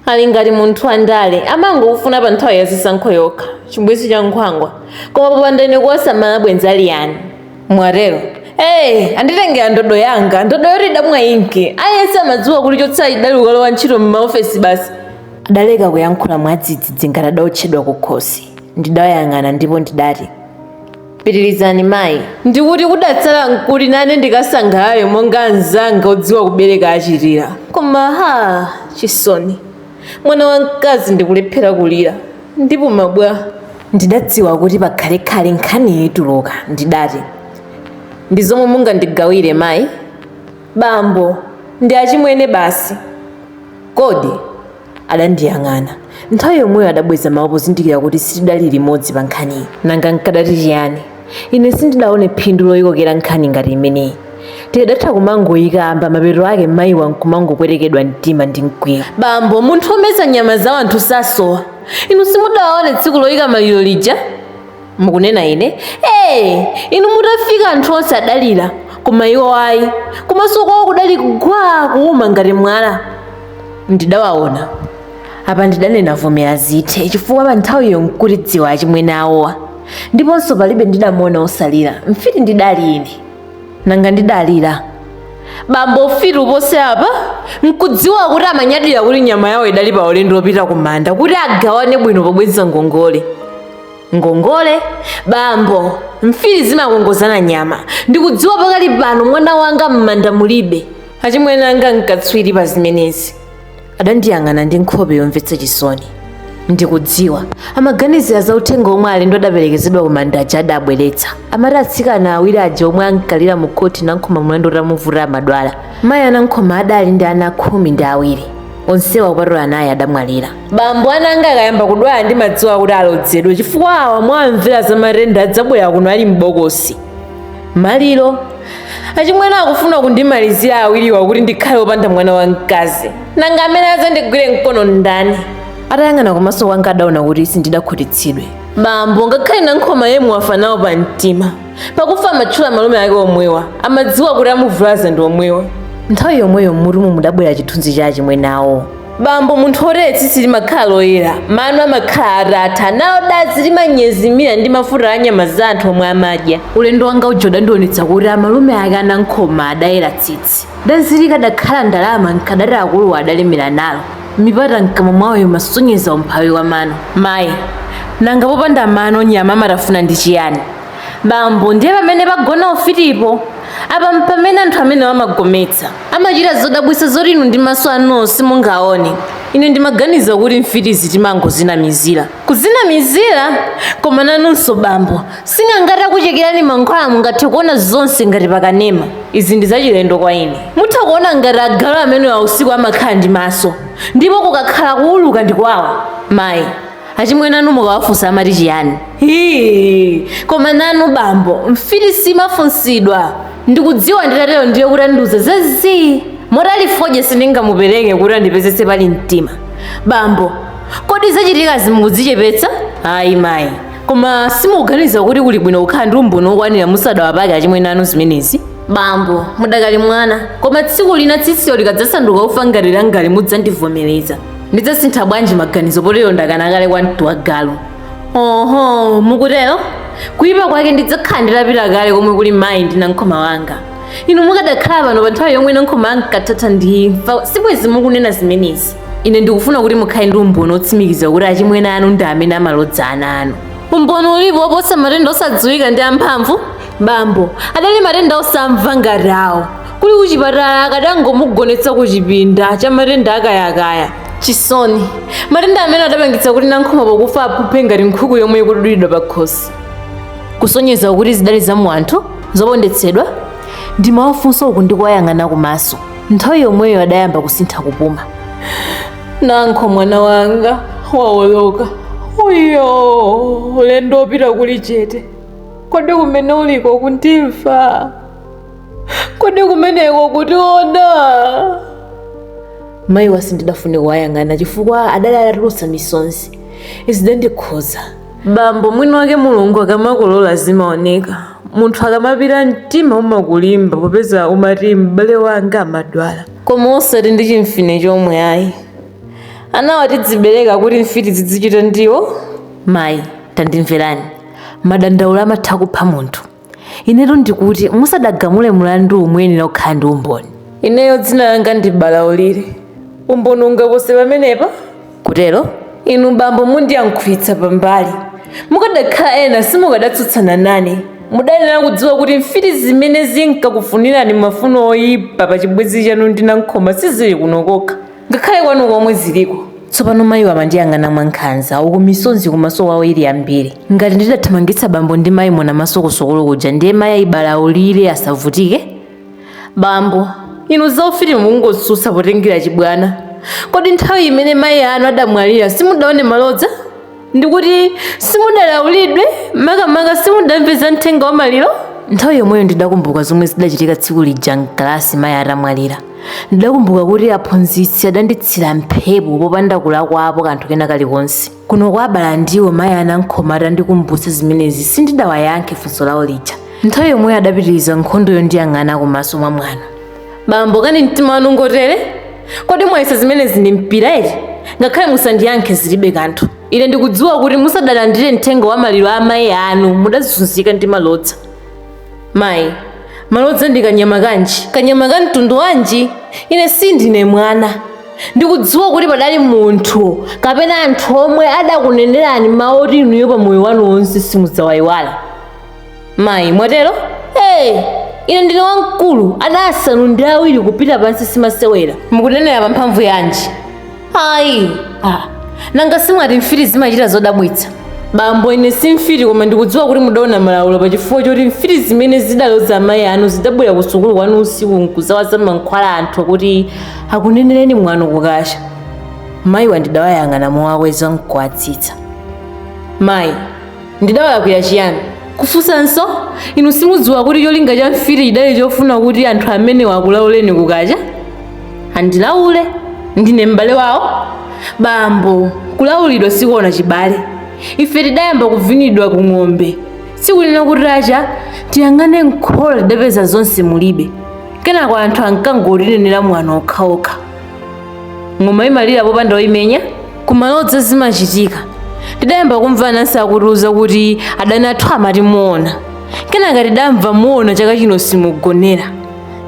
ali ngati munthu andale amangokufuna pa nthawi ya zisankho yokha chibwenzi cha nkhwangwa koma popanda ine kuwasamala bwenzi ali yani mwatero anditengera ndodo yanga ndodo yoti idamwa inki aliyense amadziwa kuti chotsala chidali ukalowa ntchito m'maofesi basi adaleka kuyankhula mwadzidzidzi ngati adaotchedwa kukhosi ndidawayang'ana ndipo ndidati Pitirizani mayi. Ndikuti kudatsala n'kuti nane ndikasangalale monga anzanga odziwa kubereka achitira? Koma ha! Chisoni. Mwana wamkazi ndikulephera kulira. Ndipuma bwa? Ndidadziwa kuti pakhalekhale nkhaniyi ituluka, ndidati, Ndi zomwe mungandigawire, mayi? Bambo, ndi achimwene basi kodi? Adandiyang'ana. Nthawi yomweyo adabweza mawu pozindikira kuti sitidali limodzi pa nkhaniyi. Nanga nkadati chiyani? Ine sindidaone phindu loyikokera nkhani ngati imeneyi. Tikadatha kumangoyikamba, mapeto ake mayiwa nkumangopwetekedwa mtima ndi mkwiyo. Bambo, munthu womeza nyama za wanthu sasowa. Inu simudawaone tsiku loyika maliro lija? mukunena ine ee inu mutafika anthu onse adalira koma iwo ayi kumaso kwawo kudali gwaa kuuma ngati mwala ndidawaona apa ndidanena vomera zithe chifukwa pa nthawiyo nkuti ndisakudziwa achimwene awowa ndiponso palibe ndidamuona osalira mfiti ndidali ine nanga ndidalira bambo ufiti upose apa nkudziwa kuti amanyadira kuti nyama yawo idali pa ulendo wopita kumanda kuti agawane bwino pobweza ngongole ngongole bambo mfiti zimakongozana nyama ndikudziwa pakali pano mwana wanga m'manda mulibe achimwene anga nkatswiri pa zimenezi adandiyang'ana ndi nkhope yomvetsa chisoni ndikudziwa amaganizira za uthenga omwe alendo adaperekezedwa ku manda aja adabweretsa amati atsikana awiri aja omwe ankalira mu khoti nankhoma mlandu utamuvuta amadwala mayi anankhoma adali ndi ana khumi ndi awiri onsewa kupatula anayi adamwalira bambo ananga akayamba kudwala ndimadziwa kuti alodzedwe chifukwa awa mwawamvera za matenda adzabwera kuno ali m'bokosi maliro achimwene akufuna kundimalizira awiriwa kuti ndikhale wopanda mwana wamkazi nanga amene adzandigwire mkono ndani atayang'ana kumaso kwanga adaona kuti sindidakhutitsidwe bambo ngakhale nankhoma yemwe wafa nawo pa mtima pakufa amatchula malume ake omwewa amadziwa kuti amuvulaza ndi omwewa nthawi yomweyo mmutumu mudabwera chithunzi cha achimwene awo bambo munthu otere tsitsi limakhala loyera mano amakhala atatha nalo dazi limanyezimira ndi mafuta a nyama za anthu omwe amadya ulendo wanga uja udandionetsa kuti amalume ake anankhoma adayera tsitsi dazi likadakhala ndalama nkadati akuluwa adalemera nalo mipata mkamwa mwawo imasonyeza umphawi wa mano mayi nanga popanda mano nyama amatafuna ndi chiyani bambo ndiye pamene pagona ufitipo apa mpamene anthu amenewa amagometsa amachita zodabwisa zoti inu ndi maso anu simungaone ine ndimaganiza kuti mfitizi timangozinamizira kuzinamizira koma nanunso bambo sing'anga atakuchekerani mankhwala mungathe kuona zonse ngati pakanema izi ndi zachilendo kwa ine mutha kuona ngati agalu amenewa usiku amakhala ndi maso ndipo kukakhala kuuluka ndi kwawo mayi achimwene anu mukawafunsa amati chiyani Hii, koma nanu bambo mfiti simafunsidwa ndikudziwa nditatero ndiye kuti andiuza zazii moti ali fodya sindingamupereke kuti andipezetse pali mtima bambo kodi zachitikazi mukudzichepetsa ayi mayi koma simukuganiza kuti kuli bwino kukhala ndi umboni wokwanira musadawapake achimwene anu zimenezi bambo mudakali mwana koma tsiku lina tsitsiyo likadzasanduka ufa ngati langali mudzandivomereza ndidzasintha bwanji maganizo potero ndakana kale kwamtuwagalu oho mukutero kuyipa kwake ndidzakhala nditapita kale komwe kuli mayi ndi nankhoma wanga inu mukadakhala pano pa nthawi yomwe nankhoma ankathatha ndi imfa sibwezi mukunena zimenezi ine ndikufuna kuti mukhale ndi umboni otsimikiza kuti achimwene anu ndi amene amalodza ana anu umboni ulipo oposa matenda osadziwika ndi amphamvu bambo adali matenda osamva ngati awo kuli kuchipatala akadangomugonetsa ku chipinda cha matenda akayakaya chisoni matenda amene adapangitsa kuti nankhoma pokufa aphuphe ngati nkhuku yomwe ikudulidwa pa khosi kusonyeza kuti zidali za mwa anthu zopondetsedwa ndimawafunsa uku ndikuwayang'ana kumaso nthawi yomweyo adayamba kusintha kupuma nankho mwana wanga waoloka uyo ulendo opita kuli chete kodi kumene uliko ukundimva kodi kumeneko ukutiona mayiwa sindidafune kuwayang'ana chifukwa adali atatulutsa misonzi zidandikhudza bambo mwini wake mulungu akamakolola zimaoneka munthu akamapita mtima umakulimba popeza umati m'bale wanga amadwala koma osati ndi chimfine chomwe ayi anawa tidzibereka kuti mfiti zidzichita ndiwo mayi tandimverani madandaulo amatha kupha munthu inetu ndikuti musadagamule mulandu muyenera kukhala ndi umboni ineyo dzina langa ndi balaulire umboni ungapose pamenepa kutero inu bambo mundiyankhulitsa pambali mukadakhala ena simukadatsutsana nane mudayenera kudziwa kuti mfiti zimene zinkakufunirani mafuno oyipa pa chibwenzi chanu ndi nankhoma sizili kuno kokha ngakhale kwanu komwe ziliko tsopano mayiwa amandiyang'ana mwankhanza uku misonzi kumaso kwawo ili yambiri ngati ndidathamangitsa bambo ndi mayi Monamaso ku Sokolo kuja ndiye mayi ayi Balaulire asavutike bambo inu zaufiti mukungosusa potengera chibwana kodi nthawi imene mayi anu adamwalira simudaone malodza ndikuti simudalaulidwe makamaka simudamve za mthenga wa maliro nthawi yomweyo ndidakumbuka zomwe zidachitika tsiku lija m'kalasi mayi atamwalira ndidakumbuka kuti aphunzitsi adanditsira mphepo popanda kulakwapo kanthu kena kalikonse kuno kwa abala ndiwo mayi anankhoma atandikumbutsa zimenezi sindidawayankhe funso lawo lija nthawi yomweyo adapitiriza nkhondoyo ndiyang'ana kumaso mwamwano bambo kani mtima wanu ngotere kodi mwayesa zimenezi ndi mpira eti ngakhale musandiyankhe zilibe kanthu ine ndikudziwa kuti musadalandire mthenga wa maliro a mayi anu mudazunzika ndi malodza mayi malodza ndi kanyama kanji kanyama ka mtundu wanji ine sindine mwana ndikudziwa kuti padali munthu kapena anthu omwe adakunenerani mawu oti inuyo pa moyo wanu wonse simudzawayiwala mayi mwatero hey, ine ndine wamkulu ana asanu ndi awiri kupita pansi simasewera mukunenera pa mphamvu yanji ayi ah. nanga simwati mfiti zimachita zodabwitsa bambo ine si mfiti koma ndikudziwa kuti mudaona malaulo pa chifukwa choti mfiti zimene zidaloza amayi anu zidabwera ku sukulu kwanu usiku nkudzawaza mankhwala anthu kuti akunenereni mwano kukacha mayiwa ndidawayang'ana mowakweza nkuwatsitsa mayi ndidawalakwira chiyani kufunsanso inu simudziwa kuti cholinga cha mfiti chidali chofuna kuti anthu amenewa akulauleni kukacha andilaule ndine m'bale wawo bambo kulaulidwa sikuona chibale ife tidayamba kuvinidwa ku ng'ombe sikunena kutacha tiyang'ane mkhola tidapeza zonse mulibe kenako anthu ankangotinenera mwano okhaokha ng'oma imalira popanda oyimenya kumaloza zimachitika tidayamba kumva anansi akutiuza kuti adani athu amati muona kenaka tidamva muona chaka chino simugonera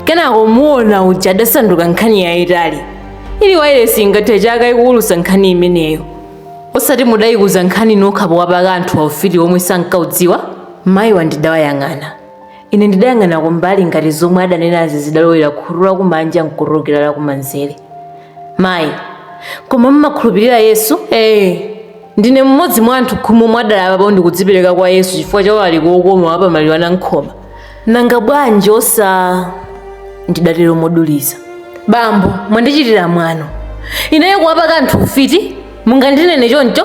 kenako muona uja adasanduka nkhani yayitali ili wailesi ingathe chaka ikuwulusa nkhani imeneyo osati mudayikuza nkhani nokha powapaka anthu ufiti omwe sankaudziwa mayiwa ndidawayang'ana Ine ndidayang'ana kumbali ngati zomwe adanenazi zidalowera khutu lakumanja nkutulukira lakumanzere. Mayi, koma mumakhulupirira Yesu? Ee, ndine mmodzi mwa anthu khumi omwe adalapapo ndikudzipereka kwa Yesu chifukwa cha ulaliki wokoma wa pamaliro a Nankhoma. Nanga bwanji osa... ndidatero moduliza. Bambo, mwandichitira mwano. Ineyo kuwapaka anthu ufiti? Mungandinene choncho?